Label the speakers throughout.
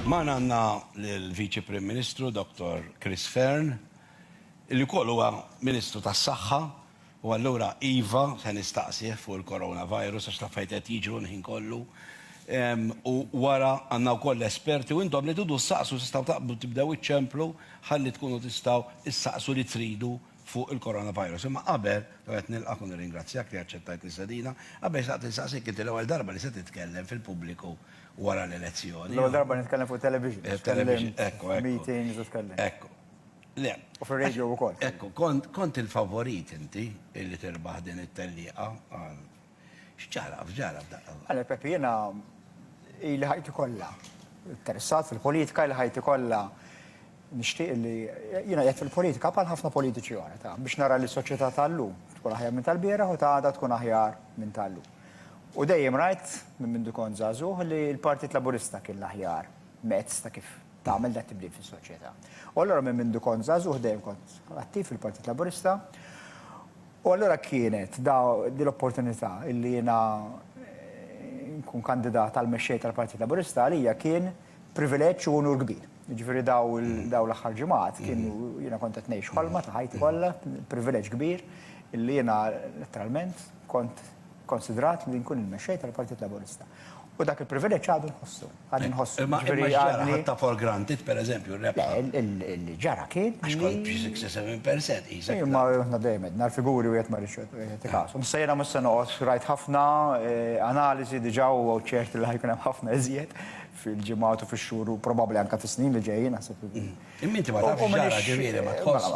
Speaker 1: Magħna għandna l-Viċi Prim Ministru Dottor Chris Fearne, li wkoll huwa Ministru tas-Saħħa, u allura iva se nistaqsih fuq il-coronavirus għax l-affarijiet qed jiġru l-ħin kollu. U wara għandna wkoll l-esperti u intom li tidu ssaqsu tistgħu taqbdu tibdew iċċemplu ħalli tkunu tistgħu ssaqsu li tridu fuq il-coronavirus. Imma qabel, l-ewwel nett nilqgħek u nirringrazzjak li aċċettajt l-istedina, qabel xtaqt insaqsik inti l-ewwel darba li se titkellem fil-pubbliku. wara l-elezzjoni. L-ewwel darba nitkellem fuq
Speaker 2: television. Eh, television, ekku, ekku.
Speaker 1: Meetings u tkellim.
Speaker 2: Ekku. Le.
Speaker 1: U fuq radio u
Speaker 2: kont. Ekku, kont
Speaker 1: il-favorit inti illi tirbaħ din it-telliqa. Xġaraf, ġaraf daqqa. Għale, Pepi, jena
Speaker 2: il-ħajti kolla. Interessat fil-politika, il-ħajti kolla. Nishtiq li jena jgħet fil-politika pal ħafna politiċi għana ta' biex nara li soċieta tal-lum tkun aħjar minn tal-bira u ta' għada tkun aħjar minn tal-lum. U dejjem rajt, minn mindu kont żagħżugħ, li l-Partit Laburista kien l-aħjar mezz ta' kif tagħmel dat-tibdil fis-soċjetà. U allura minn mindu kont żagħżugħ dejjem kont attiv fil-Partit Laburista. U allura kienet din l-opportunità li jiena nkun kandidat għal mexxej tal-Partit Laburista għalija kien privileġġ u unur kbir. Jiġifieri dawn l-aħħar ġimgħat kienu jiena kont qed ngħix ħolma ta' ħajti kollha, privileġġ kbir illi jiena letteralment kont konsidrat li nkun il-Mexxej tal-Partit Laburista. U dak il-privileġġ għadu nħossu, għadni nħossu. Imma x'ġara? Ħadtha
Speaker 1: for granted, pereżempju, r-rebħa? Le,
Speaker 2: li ġara kien li. Għax kont xi 6 jew 7
Speaker 1: percent, qisek. Imma aħna dejjem għedna
Speaker 2: l-figuri wieħed ma jridx jagħti kasu. Issa jiena mhux se noqgħod, rajt ħafna analiżi diġà u ċert li ħajkun hemm ħafna iżjed fil-ġimgħat u fix-xhur u probabbli anke fis-snin li ġejjin naħseb. Imma inti ma tafx
Speaker 1: x'ġara ġifieri ma tħoss.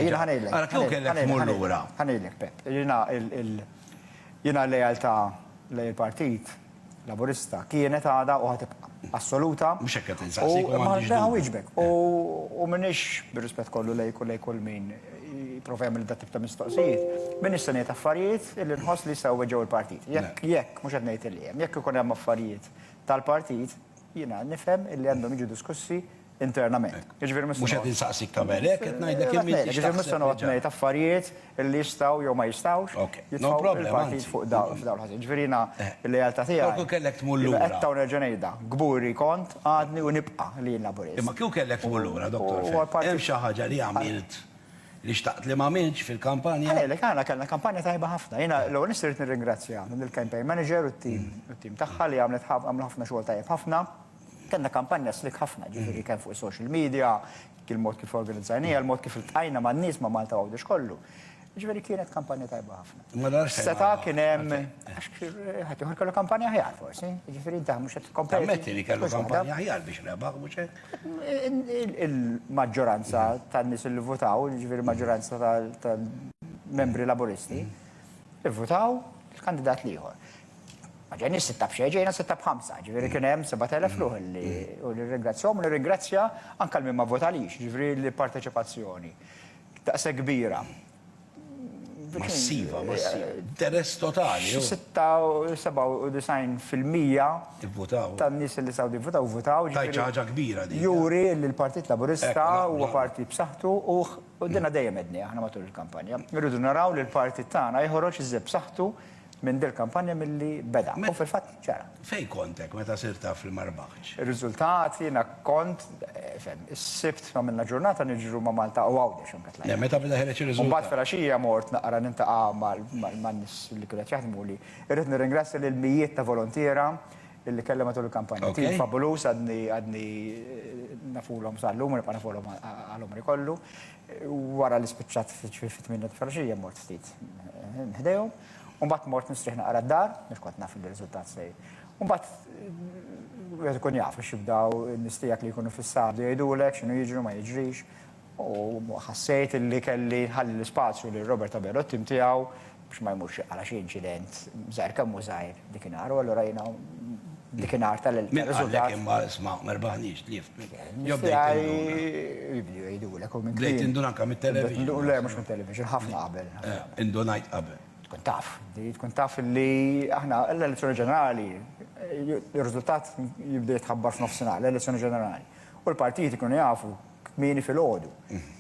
Speaker 1: Jiena ħanejlek. Ara
Speaker 2: kieku kellek tmur
Speaker 1: lura. Ħanejlek Pepp. Jiena
Speaker 2: jiena l-lealtà lejn il-Partit Laburista kienet għadha u ħa tibqa' assoluta. Mhux hekk qed insaqsik u
Speaker 1: m'għandix dubju. Ħawieġbek. U
Speaker 2: m'iniex bir-rispett kollu lejk u lejn kull min jipprova jagħmel dat-tip ta' mistoqsijiet, m'iniex se ngħid affarijiet illi nħoss li jistgħu jweġġgħu l-Partit. Jekk jekk, mhux qed ngħid illi hemm, jekk ikun hemm affarijiet tal-partit, jiena nifhem illi għandhom jiġu diskussi internament. Jiġifieri mhux se noqgħod. Mhux qed
Speaker 1: insaqsik tagħmel hekk, qed ngħidlek kemm intix taħseb. Jiġifieri mhux se noqgħod ngħid
Speaker 2: affarijiet illi jistgħu jew ma jistgħux jitfgħu lill-partit
Speaker 1: fuq dawl
Speaker 2: ħażin. Jiġifieri jiena l-lealtà tiegħi. Però kieku kellek tmur lura. Jiena
Speaker 1: qedta u nerġa' ngħidha,
Speaker 2: kburi kont, għadni u nibqa' li jien Laburist. Imma kieku kellek tmur
Speaker 1: lura, Dottor Fenech, hemm xi ħaġa li għamilt li xtaqt li m'għamiltx fil-kampanja. Ħalilek, aħna kellna kampanja
Speaker 2: tajba ħafna. Jiena l-ewwel nett irrid nirringrazzja lill-campaign manager u t-tim tagħha li għamlet għamlu ħafna xogħol tajjeb ħafna. Kellna kampanja slick ħafna, jiġifieri kemm fuq is-social media, il-mod kif organizzajniha, il-mod kif iltqajna man-nies ma' Malta Għawdex kollu. Jiġifieri kienet kampanja tajba ħafna. Imma dan x'se jagħmel? Seta' kien hemm għax ħaddieħor kellu kampanja aħjar forsi, jiġifieri inti mhux qed tikkompeti. Tammetti li kellu kampanja
Speaker 1: aħjar biex rebaħ, mhux hekk? Il-maġġoranza
Speaker 2: tan-nies li votaw, jiġifieri l-maġġoranza tal-membri Laburisti, ivvutaw il-kandidat l-ieħor. Ma ġejniex sitta b'xejn, ġejna sitta b'ħamsa, ġifieri kien hemm 7,000 ruħ li u nirringrazzjahom u nirringrazzja anke l-min ma votalix, ġifieri l-parteċipazzjoni daqshekk kbira. Massiva, massiva.
Speaker 1: Interess totali.
Speaker 2: 96% tan-nies li saw divvutaw votaw. Tajċa ħaġa kbira
Speaker 1: din. Juri li l-Partit
Speaker 2: Laburista huwa parti b'saħħtu u dinha dejjem għedni aħna matul il-kampanja. Irridu naraw li l-partit tagħna jħoroġ iżjed b'saħħtu Minn dil-kampanja milli beda. U fil-fatt ġara. Fejn kont hekk meta
Speaker 1: sirt taf li ma rbaħtx? Ir-riżultat jiena
Speaker 2: kont, fehm, is-Sibt għamilna ġurnata niġru ma' Malta u Għawdex anke tlajna. Le meta beda ħereġ ir-riżultat? U mbagħad
Speaker 1: filgħaxija mort
Speaker 2: naqra nintaqa' man-nies li kienu qed jaħdmuli. Irrid nirringrazzja lill-mijiet ta' volontiera li kelli matul il-kampanja. Tim fabuluż għadni nafulhom sal-lum u nibqa' nafulhom għal għomri kollu. Wara li spiċċat f'ġifieri fit-tmienja ta' filgħaxija mort ftit ħdejhom, u mbagħad mort nistrieħ naqra d-dar, għax kont naf li r-riżultat se U mbagħad wieħed ikun jaf biex jibdew in-nies tiegħek li jkunu fis-saħħ jgħidulek x'inhu jiġri u ma jiġrix. U ħassejt li kelli nħalli l-ispazju lil Robert Abela u t-tim tiegħu Biex ma jmurx iqara xi inċident żgħir kemm hu żgħir dikinhar u allura jiena dikinhar tal Min qalek imma isma'
Speaker 1: ma rbaħniex tlift.
Speaker 2: Jibdew jgħidulek u minn. Bdejt indun anke
Speaker 1: mit-television. Le mhux mit-television,
Speaker 2: ħafna qabel. Indunajt qabel.
Speaker 1: Tkun taf, tkun
Speaker 2: taf li aħna l-elezzjoni ġenerali, ir-riżultat jibda jitħabbar f'nofsinhar, l-elezzjoni ġenerali. U l-partijiet ikunu jafu kmieni filgħodu.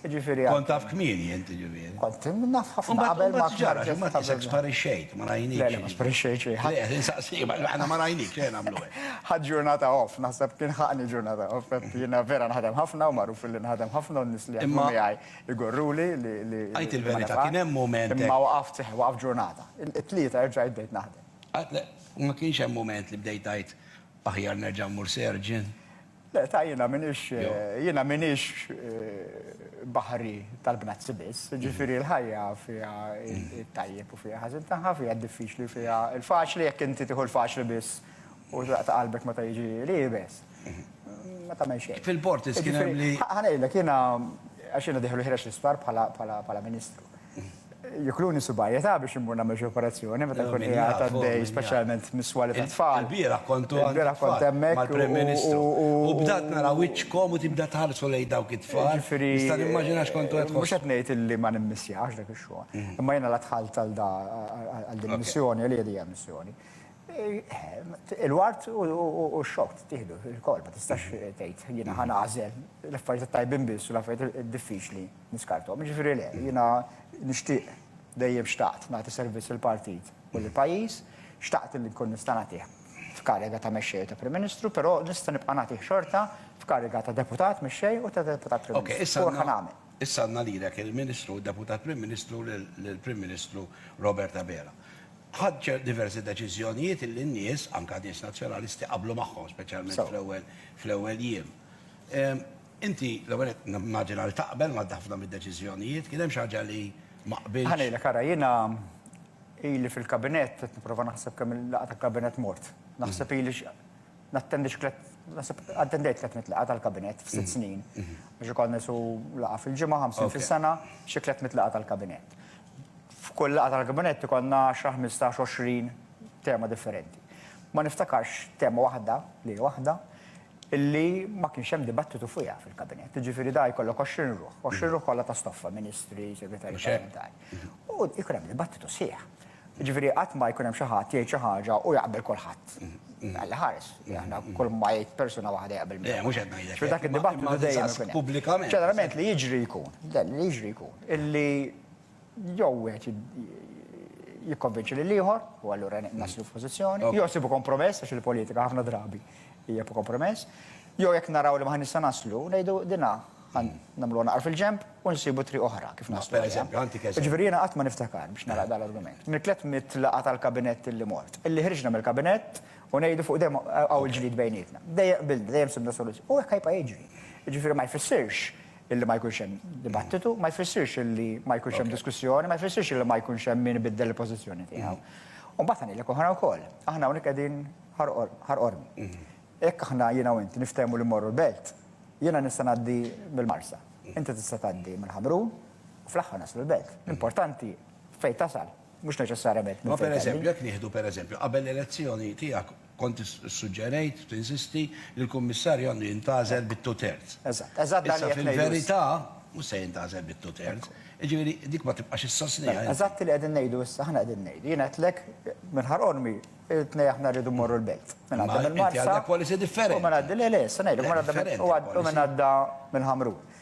Speaker 2: Jiġifieri. Kont taf kmieni
Speaker 1: int jiġifieri. Kont naf ħafna
Speaker 2: qabel ma ġara, ma tisek
Speaker 1: sparixxejt, ma rajnik. Le, ma sparixxejt xejn.
Speaker 2: Le, qed insaqsi,
Speaker 1: aħna ma rajnik xejn nagħmlu hekk. Ħadd ġurnata
Speaker 2: off, naħseb kien ħaqni ġurnata off, jiena vera nħadem ħafna u magħruf li nħadem ħafna u n-nies li jaħdmu miegħi jgorruli li li. Għid il-verità, kien
Speaker 1: hemm mument. Imma waqaft, seħħ waqaft
Speaker 2: ġurnata. It-Tlieta erġajt bdejt naħdem. Ma kienx hemm
Speaker 1: mument li bdejt tgħid aħjar nerġa' mmur serġen? Le, ta' jiena
Speaker 2: minix, jiena minix baħri tal-bnazzi biss, ġifiri l-ħajja fija il-tajjeb u fija ħazin taħħa, fija diffiċli fija il-faċli, jek inti tiħu l-faċli biss u ta' qalbek ma ta' jiġi li best. Ma ta' meċe. Fil-portis kien li.
Speaker 1: Ħanajlek, jiena,
Speaker 2: għax jiena diħlu ħirex l-isptar bħala ministru. Jukluni subajja ta' biex immur nagħmel xi operazzjoni meta kun qiegħed għaddej speċjalment miswali ta' tfal. Biera kontu biera
Speaker 1: kont hemmhekk
Speaker 2: mal-Prim Ministru.
Speaker 1: U bdat nara wiċċkom u tibda tħarsu lejn dawk it-tfal. Nista' nimmaġina x'kontu qed tħossu. Mhux qed ngħid illi ma
Speaker 2: nimmissjax dak ix-xogħol. Imma jiena la dħalt għal da għal din il-missjoni għalija din hija missjoni. Il-wart u x-xokk tieħdu il-kol ma tistax tgħid jiena ħa nagħżel l-affarijiet it-tajbin biss u l-affarijiet id-diffiċli. Niskarthom, jiġifieri le, jiena nixtieq, dejjem xtaqt nagħti servizz lill-partit u lill-pajjiż, xtaqt li nkun nista' nagħtih f'kariga ta' Mexxej u ta' Prim Ministru, però nista' nibqa' nagħtih xorta f'kariga ta' Deputat Mexxej u ta' Deputat Prim Ministru. U hekk ħa nagħmel. Issa għandna
Speaker 1: lilek il-Ministru u Deputat Prim Ministru lill-Prim Ministru Robert Abela. Ħadt diversi deċiżjonijiet illi n-nies, anke nies Nazzjonalisti, qablu magħhom, speċjalment fl-ewwel jiem. Inti, l-ewwel nett, nimmaġina li taqbel ma' ħafna mid-deċiżjonijiet. Kien hemm xi ħaġa li ma qbiltx? Ħa ngħidlek, ara, jiena
Speaker 2: ili fil-Kabinett, qed nipprova naħseb kemm il-laqgħa tal-Kabinett mort. Naħseb ili nattendi xi tliet, naħseb attendejt tliet mitt laqgħa tal-Kabinett f'sitt snin. Għax ikollna qisu laqgħa fil-ġimgħa, ħamsin fis-sena, xi tliet mitt laqgħa tal-Kabinett. F'kull laqgħa tal-Kabinett ikollna għaxra, ħmistax, għoxrin tema differenti. Ma niftakarx tema waħda, lejla waħda, illi ma kienx hemm dibattitu fuqha fil-Kabinett. Jiġifieri da jkollok 20 ruħ, 20 ruħ kollha ta' stoffa, Ministri, Segretarji Parlamentari. U jkun hemm dibattitu sħiħ. Jiġifieri qatt ma jkun hemm xi ħadd jgħid xi ħaġa u jaqbel kulħadd. Alla ħares, aħna kull ma jgħid persuna waħda jaqbel miegħu. Le, mhux qed ngħidlek. Jiġifieri dak
Speaker 1: id-dibattitu dejjem
Speaker 2: ikun hemm. Pubblikament. Ġeneralment li
Speaker 1: jiġri
Speaker 2: jkun, li jiġri jkun, illi Jew wieħed jikkonvinċi lil ieħor u allura naslu f'pożizzjoni, jew sibu kompromess għax il-politika ħafna drabi hija kompromess, jew jekk naraw li ma nista' naslu ngħidu dinha nagħmlu naqar fil-ġemp u nsibu tri oħra kif naslu. Pereżempju, għanti keżempju. Ġifieri
Speaker 1: jiena qatt ma niftakar
Speaker 2: biex nara dan l-argument. Mitlet mitlaqa tal-kabinett li mort. Illi ħriġna mill-kabinett u ngħidu fuq dejjem hawn il-ġlid bejnietna. Dejjem qbilna, dejjem sibna soluzzjoni. U hekk ħajpa jiġri. Ġifieri ma jfissirx Illi ma jkunx hemm dibattitu ma jfissirx illi ma jkunx hemm diskussjoni, ma jfissirx illi ma jkunx hemm min ibiddel il-pożizzjoni tiegħu. U mbagħad ngħidlek oħra wkoll, aħna hawnhekk qegħdin ħar qormi. Jekk aħna jiena u int niftehmu li mmorru l-Belt, jiena nista' ngħaddi mill-Marsa, inti tista' tgħaddi minn Ħamrun u fl-aħħar naslu l-Belt. L-importanti fejn tasal, mhux neċessarjament minn fejn tgħaddi. Ma pereżempju, jekk nieħdu
Speaker 1: pereżempju, qabel l-elezzjoni tiegħek Kont issuġġerejt, tinsisti, li l-Kummissarju għandu jintgħażel bit two thirds. Eżatt, eżatt dan li qed ngħidu
Speaker 2: issa. Issa fil-verità
Speaker 1: mhux se jintgħażel bit two thirds. Jiġifieri dik ma tibqax issostniha inti. Eżatt li qegħdin ngħidu
Speaker 2: issa, aħna qegħdin ngħidu. Jiena għedtlek minn Ħar Qormi it-tnej aħna rridu mmorru l-Belt. Minn għadda mill-Marsa. Imma inti għandek policy differenti. U
Speaker 1: minn għadda, le le, issa
Speaker 2: ngħidlek, minn għadda u minn għadda mill-Ħamrun.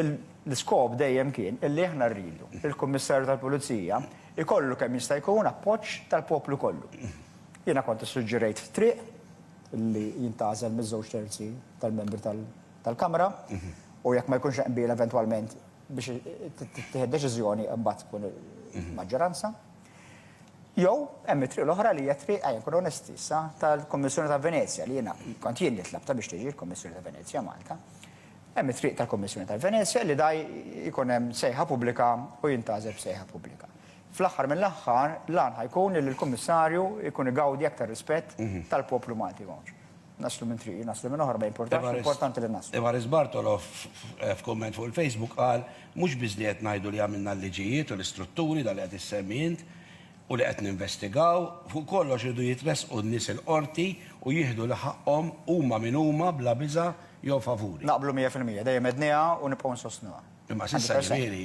Speaker 2: L-iskop dejjem kien illi aħna rridu li l-Kummissarju tal-Pulizija jkollu kemm jista' jkun appoġġ tal-poplu kollu. Jiena kont issuġġerejt triq li jintgħażel miż-żewġ terzi tal-membri tal-Kamra u jekk ma jkunx hemm qbil eventwalment biex tittieħed deċiżjoni mbagħad tkun il-maġġoranza. Jew hemm it-triq l-oħra li hija triq, ejja nkunu onesti issa, tal-Kummissjoni ta' Venezja li jiena kont jien li tlabtha biex tiġi l-Kummissjoni ta' Venezja Malta. Hemm it-triq tal-Kummissjoni ta' Venezja li da jkun hemm sejħa pubblika u jintgħażel b'sejħa pubblika. Fl-aħħar mill-aħħar, l-għan ħa jkun li l-Kummissarju jkun igawdi aktar rispett tal-poplu Malti hawn. Naslu minn triq, naslu minn oħra ma jimpurtax, l-importanti li naslu. Evarist Bartolo
Speaker 1: f'kumment fuq il-Facebook qal, Mhux biss li qed ngħidu li għamilna l-liġijiet u l-istrutturi, dak li qed issemmi int, u li qed ninvestigaw, fuq kollox iridu jitressqu n-nies il-Qorti u jieħdu li ħaqqhom huma min huma bla biża' jew favuri.
Speaker 2: Naqblu mija
Speaker 1: fil-mija,
Speaker 2: dejjem
Speaker 1: għedniha
Speaker 2: u nibqgħu nsostnuha. Imma s'issa
Speaker 1: ġifieri.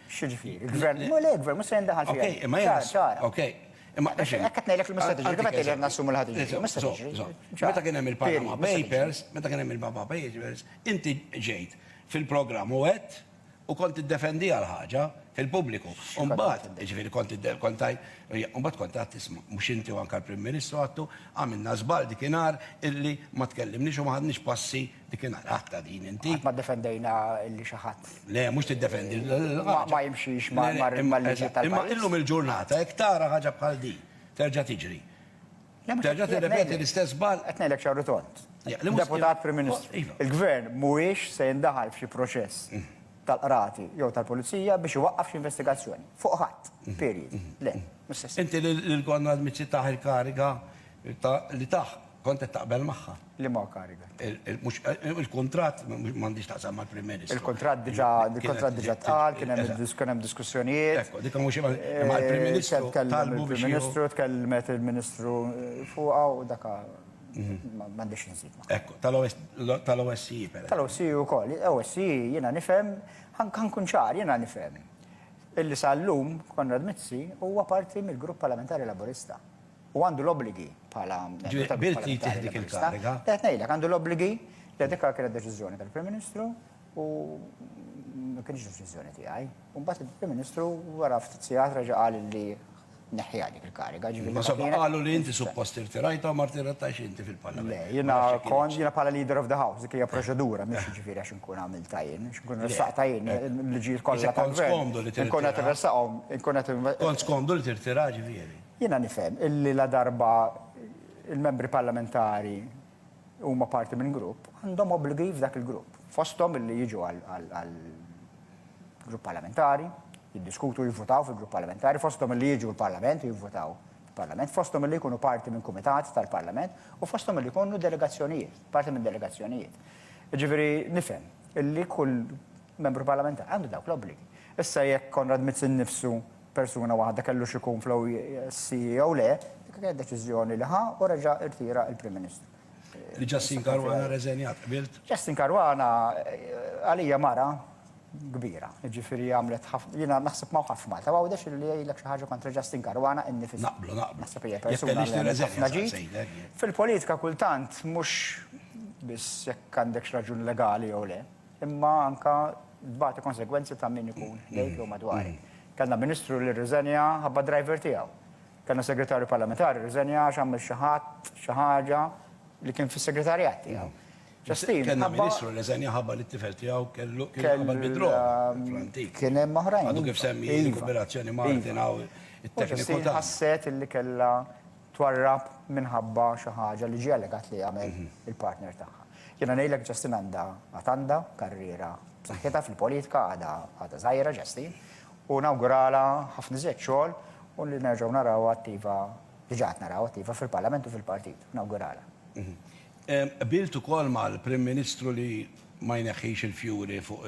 Speaker 1: X'jiġifieri? Il-gvern,
Speaker 2: ma le, il-gvern mhux se jindaħal fija. Okej, imma jgħid. Ċara.
Speaker 1: Okej. Imma għaxin. Hekk qed ngħidlek li mista'
Speaker 2: tiġri, kif qed ngħidlek nassumu li ħad tiġri. Mista' tiġri. Meta kien hemm il-Panama
Speaker 1: Papers, meta kien hemm il-Panama Papers, inti ġejt fil-programm u għedt u kont tiddefendiha l-ħaġa fil-pubbliku. U mbagħad, jiġifieri kont kont tajt, mbagħad kont għad tisma' mhux inti u anke l-Prim Ministru għattu għamilna żball dikinhar illi ma tkellimniex u ma ħadniex passi Dikin għatta din inti. Ma defendejna
Speaker 2: li xaħat. Le, mux t-defendi.
Speaker 1: Ma jimxiex
Speaker 2: ma l-liġi tal Imma illum il-ġurnata,
Speaker 1: jek tara ħagġa bħal di, terġa tiġri. Terġa t-repeti l-istess bal. Etnejlek xarru tont.
Speaker 2: Deputat Prim Ministru. Iva. Il-gvern mhuwiex se jindaħal f'xi proċess mm. tal-qrati jew tal-pulizija biex iwaqqaf xi investigazzjoni. Fuq ħadd, mm. period. Mm. Le, Inti li l-gonna
Speaker 1: l-mizzi taħ il-kariga li taħ Kont qed taqbel magħha. Liema kariga?
Speaker 2: Il-kuntratt
Speaker 1: m'għandix taqsam mal-Prim Ministru. Il-kuntratt diġà
Speaker 2: il-kuntratt diġà tqal, kien hemm diskussjonijiet. Ekku, dik mhux
Speaker 1: imma l-Prim Ministru talbu biex. Il-Prim Ministru
Speaker 2: tkellmet il-Ministru fuqha u dak m'għandix inżid magħha. Ekku,
Speaker 1: tal-OSCE pereżempju. Tal-OSCE wkoll.
Speaker 2: OSCE jiena nifhem, ħa nkun ċar, jiena nifhem illi sal-lum Konrad Mizzi huwa parti mill-Grupp Parlamentari Laburista. u għandu l-obbligi bħala. Ġifieri qbilt li jittieħed
Speaker 1: dik il-kariga? Qed ngħidlek, għandu l-obbligi
Speaker 2: li dik kienet deċiżjoni tal-Prim Ministru u ma kienx deċiżjoni tiegħi. U mbagħad il-Prim Ministru wara ftit sigħat reġa' qal li neħħiha dik il-kariga. Ma sabba qalu li
Speaker 1: inti suppost irtirajta u ma rtirajtax inti fil-Parlament. Le, jiena kont
Speaker 2: jiena bħala leader of the house, dik hija proċedura, mhux jiġifieri għax inkun għamilta jien, għax inkun ressaqta jien l-liġijiet kollha. Kont skomdu li tirtira. Inkun qed irressaqhom, inkun qed. Kont skomdu li tirtira
Speaker 1: ġifieri. Jiena nifhem illi
Speaker 2: ladarba l-Membri Parlamentari huma parti minn grupp, għandhom obbligi f'dak il-grupp. Fosthom illi jiġu għall-Grupp Parlamentari, jiddiskutu u jivvutaw fil-Grupp Parlamentari, fosthom illi jiġu l-Parlament u jivvutaw fil-Parlament, fosthom illi jkunu parti minn kumitat tal-Parlament u fosthom illi jkunu delegazzjonijiet, parti minn delegazzjonijiet. Jiġifieri nifhem illi kull Membru Parlamentari għandu dawk l-obbligi. Issa jekk Konrad Mizzi nnifsu persuna waħda kellux ikun fl-OSCE jew le, dik kienet deċiżjoni li ħa u reġa' irtira l-Prim Ministru. Li Justin
Speaker 1: Caruana rreżenjat, qbilt? Justin Caruana
Speaker 2: għalija mara kbira, jiġifieri għamlet ħafna, jiena naħseb ma' ħadd f'Malta ma għawdex li jgħidlek xi ħaġa kontra Justin Caruana innifsu. Naqblu, naqblu. Naħseb hija
Speaker 1: persuna
Speaker 2: li għamlet ħafna ġid. Fil-politika kultant mhux biss jekk għandekx raġuni legali jew le, imma anke Tbati konsegwenzi ta' min ikun lejk jew madwarek. Kellna Ministru li rriżenja ħabba driver tiegħu. Kellna Segretarju Parlamentari rriżenja għax għamel xi ħadd xi ħaġa li kien fis-segretarjat tiegħu. Ġastini, Kellna ħabba-
Speaker 1: Ministru li rriżenja ħabba li t-tifel tiegħu kellu kien Kellu- qabel bid-droga fl-antik. Kien hemm oħrajn. Għadu
Speaker 2: kif iva, semmi iva.
Speaker 1: l-kooperazzjoni ma' Iva. Martin hawn U it-tekniku Ġastini tagħna. ħasset illi kellha
Speaker 2: twarrab minħabba xi ħaġa li ġie allegat li għamel il-partner tagħha. Jiena ngħidlek Justin għandha għad għandha karriera b'saħħitha fil-politika għadha għadha żgħira Justin u nawguralha ħafna iżjed xogħol u li nerġgħu narawha attiva diġà qed narawha attiva fil-Parlament u fil-Partit. Nawguralha.
Speaker 1: Qbilt ukoll mal-Prim Ministru li ma jneħħix il-fjuri fuq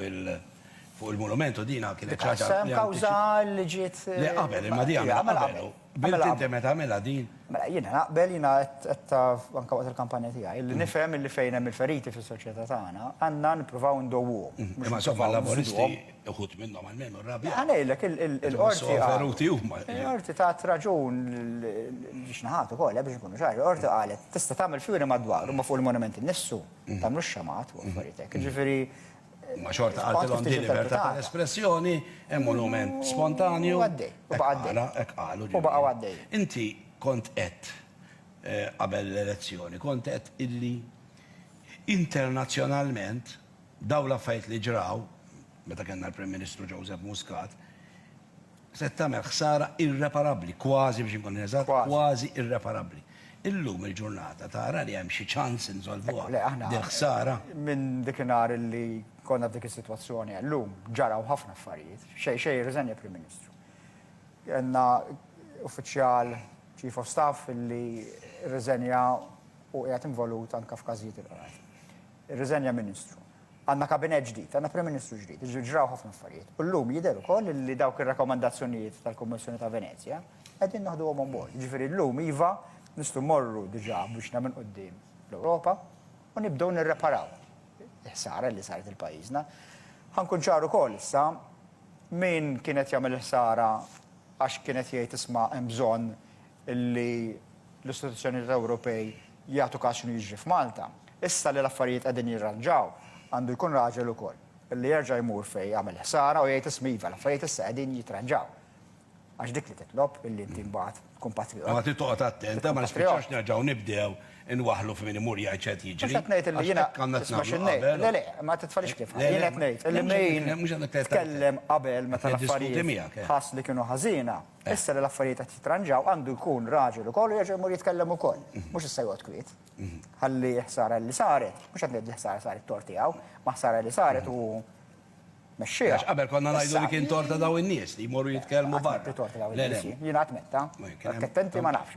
Speaker 1: il-monument u din kienet xi ħaġa li. Kawża li
Speaker 2: ġiet. Le qabel, imma din
Speaker 1: għamilha qabel. Bilt Mela- inti meta għamilha din? Mela, jiena naqbel,
Speaker 2: jiena qed- qed taf anka waqt il-kampanja tiegħi, li nifhem illi fejn hemm il-feriti fis-soċjetà tagħna, għandna nippruvaw indowwuhom. mhux Imma insomma nippruvaw l-Laburisti
Speaker 1: nżiduhom. uħud minnhom almenu rrabjaw. Ħa ngħidlek, il- il- Insomma,
Speaker 2: il-qorti so qalet- veruti huma. Il-qorti
Speaker 1: tat raġun
Speaker 2: l- l- li xnaħat ukoll, eh, biex inkunu ċari, il-qorti qalet tista' tagħmel fjuri madwaru, imma fuq il-monument innifsu tagħmlux xamat u affarijiet hekk. Jiġifieri Imma xorta
Speaker 1: qaltilhom din libertà tal-espressjoni, hemm monument spontanju. U għaddej, u baqa' għaddej. Ara,
Speaker 2: hekk qalu ġifieri. U baqgħu għaddejjin. Inti kont
Speaker 1: għedt qabel l-elezzjoni, kont għedt illi internazzjonalment dawn l-affarijiet li ġraw, meta kellna l-Prim Ministru Joseph Muscat, se tagħmel ħsara irreparabbli, kważi biex inkun eżatt, kważi irreparabbli. Illum il-ġurnata tara li hemm xi ċans insolvuha dil-ħsara? Minn dikinhar
Speaker 2: li konna f'dik is-sitwazzjoni għal lum, ġaraw ħafna affarijiet. Xejn xejn jirriżenja Prim Ministru. Kellna uffiċjal Chief of Staff li rriżenja u qiegħed involut anke f'każijiet il-Qrati. Irriżenja Ministru. Għandna Kabinett ġdid, għandna Prim Ministru ġdid, jiġifieri ġraw ħafna affarijiet. U llum jidher ukoll li dawk ir-rakkomandazzjonijiet tal-Kummissjoni ta' Venezja qegħdin naħduhom on board. Jiġifieri llum iva, nistgħu mmorru diġà b'wiċċna minn quddiem l-Ewropa u nibdew nirreparaw il-ħsara li saret lil pajjiżna. Ħa nkun ċar ukoll issa, min kien qed jagħmel il-ħsara għax kien qed jgħid isma' hemm bżonn li l-istituzzjonijiet Ewropej jagħtu każ x'inhu jiġri f'Malta. Issa li l-affarijiet qegħdin jirranġaw, għandu jkun raġel ukoll, li jerġa' jmur fejn għamel ħsara u jgħid isma' iva, l-affarijiet issa qegħdin jitranġaw. Għax dik li titlob illi inti mbagħad tkun patriot. Imma trid toqgħod attent, ha,
Speaker 1: ma nispiċċawx nerġgħu nibdew inwaħħlu f'min imur jgħid x'qed jiġri. Mhux qed ngħid illi jiena,
Speaker 2: isma' xi ngħid, le le, ma titfalix kif, jien qed ngħid illi min tkellem qabel meta l-affarijiet ħass li kienu ħażina, Issa li l-affarijiet qed jitranġaw għandu jkun raġel ukoll u jerġa' jmur jitkellem ukoll. Mhux issa joqgħod kwiet. Ħalli ħsara li saret, mhux qed ngħid li ħsara saret tort tiegħu, ma ħsara li saret u mexxieha. Għax qabel konna ngħidu
Speaker 1: li kien tort ta' daw in-nies li jmorru jitkellmu barra. Jien qatt
Speaker 2: metta. Attenti ma nafx.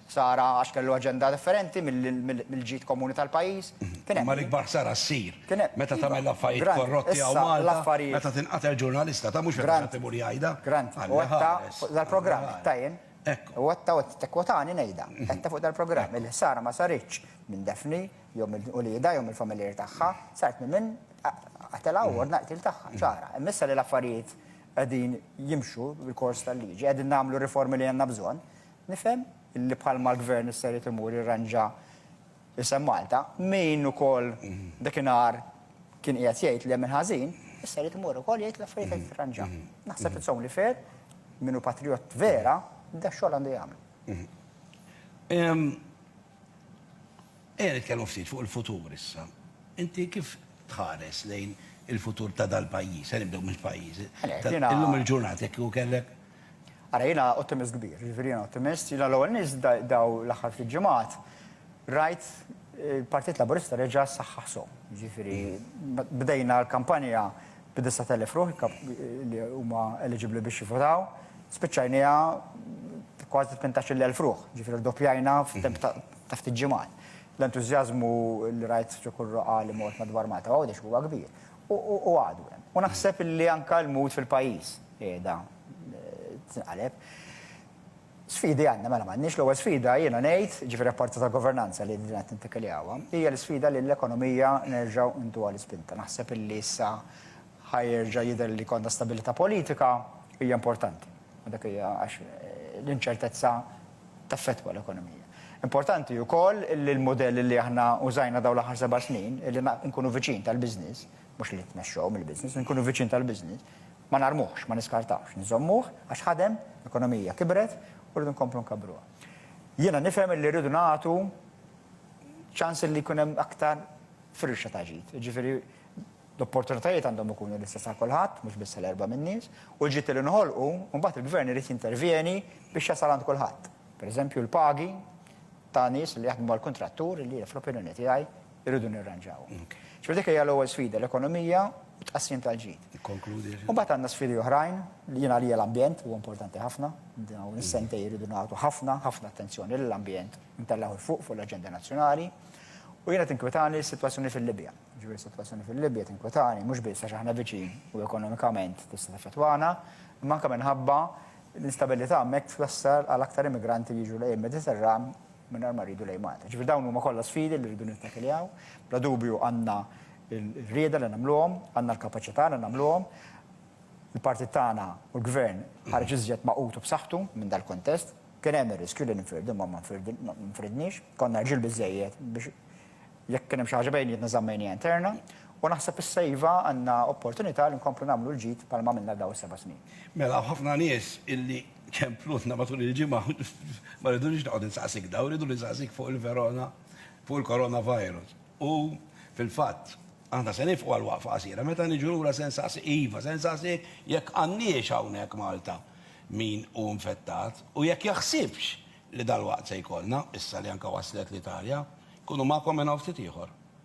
Speaker 2: Ħsara għax kellu aġenda differenti mill-ġid komuni tal-pajjiż. Kien hemm. Imma l-ikbar ħsara
Speaker 1: ssir meta tagħmel l-affarijiet korrotti hawn Malta, meta tinqatel ġurnalista, ta' mhux meta xi ħadd imur jgħidha. Grant, u għedtha
Speaker 2: fuq dal-programm, għedtha jien. Hekk. U għedtha u qed tikkwotani ngħidha. Għedtha fuq dal-programm. Il-ħsara ma saritx minn Daphne jew minn uliedha jew mill-familjari tagħha, saret minn min qatilha u ordna l-qtil tagħha. Ċara. Imma issa li l-affarijiet qegħdin jimxu bil-kors tal-liġi, qegħdin nagħmlu r-riformi li għandna bżonn, Nifhem li bħalma l-Gvern issa jrid imur jirranġa isem Malta, min ukoll dakinhar kien qiegħed jgħid li hemm il-ħażin, issa jrid imur ukoll jgħid l-affarijiet qed jirranġaw. Naħseb it's only fair, min hu patrijott vera, da x-xogħol għandu jagħmlu.
Speaker 1: Ejja nitkellmu ftit fuq il-futur issa. Inti kif tħares lejn il-futur ta' dal-pajjiż, se nibdew mill-pajjiż, illum il-ġurnata jekk kieku kellek Ara jiena
Speaker 2: ottimist kbir, jiġifieri jiena ottimist, jiena l-ewwel nies daw l-aħħar ftit ġimgħat rajt il-Partit Laburista reġa' ssaħħaħ sew. Jiġifieri bdejna l-kampanja bi 9,000 ruħ li huma eliġibbli biex jivvotaw, spiċċajnieha b' kważi 18,000 ruħ, jiġifieri rdoppjajna f'temp ta' ftit ġimgħat. L-entużjażmu li rajt ġo kull roqgħa li mort madwar Malta u Għawdex huwa kbir. U għadu hemm. U naħseb li anke l-mood fil-pajjiż qiegħda tinqaleb. Sfidi għandna, mela m'għandniex l-ewwel sfida jiena ngħid, ġifieri apparti tal-governanza li din qed nintikiljawa, hija l-isfida li l-ekonomija nerġgħu ntuha l-ispinta. Naħseb li issa ħa jerġa' jidher li jkollna stabilità politika hija importanti. Dak hija għax l-inċertezza taffettwa l-ekonomija. Importanti wkoll li l-mudell li aħna użajna dawn l-aħħar seba' snin, li nkunu viċin tal-business, mhux li nitmexxew mill-business, li nkunu viċin tal-business, ma narmuhx, ma niskartawhx, nżommuh għax ħadem, l-ekonomija kibret u rridu nkomplu nkabbruha. Jiena nifhem li rridu nagħtu ċans li jkun hemm aktar firxa ta' ġid, jiġifieri L-opportunitajiet għandhom ikunu l-istess għal kulħadd, mhux biss għal erba' min-nies, u l-ġid li nħolqu, imbagħad il-gvern irid jintervjeni biex jasal għand kulħadd. Per eżempju, l-pagi ta' nies li jaħdmu mal-kuntrattur li, fl-opinjoni tiegħi, irridu nirranġawhom. Ġifieri dik hija l-ewwel sfida, l-ekonomija u t-tqassim tal-ġid. Imbagħad għandna sfidi oħrajn, li jien għalija l-ambjent huwa importanti ħafna, dawn is-sentejn irridu nagħtu ħafna, ħafna attenzjoni lill-ambjent, intellgħuh 'il fuq, fuq l-aġenda nazzjonali. U jiena tinkwetani s-sitwazzjoni fil-Libja. Jiġifieri s-sitwazzjoni fil-Libja tinkwetani, mhux biss għax aħna viċin u ekonomikament tista' taffettwana, imma anke minħabba l-instabilità hemmhekk twassal għal aktar immigranti li jiġu lejn il-Mediterran mingħajr ma rridu lejn Malta. Jiġifieri dawn huma kollha sfidi li rridu nittakiljaw. Bla dubju għandna r-rieda li nagħmluhom, għandna l-kapaċità li nagħmluhom. Il-partit tagħna u l-Gvern ħareġ iżjed magħqud u b'saħħtu minn dal-kuntest. Kien hemm ir-riskju li ninfirdu imma ma nfirdniex. Konna rġiel biżżejjed biex Jekk kien hemm xi ħaġa bejnietna żammejnija interna u naħseb issa iva għandna opportunità li nkomplu nagħmlu l-ġid bħalma għamilna f'dawn is-seba' snin. Mela hawn ħafna
Speaker 1: nies illi kemplutna matul il-ġimgħa u ma rridunix noqgħod insaqsik dawn, irridu ninsaqsik fuq il-verona, fuq il-coronavirus. U fil-fatt, aħna se nifqu għal waqfa qasira. Meta niġu lura se nsaqsik, iva, se nsaqsik jekk għandniex hawnhekk Malta min hu infettat u jekk jaħsibx li dalwaqt se jkollna, issa li anke waslet l-Italja, jkunu magħkom minn hawn ftit ieħor.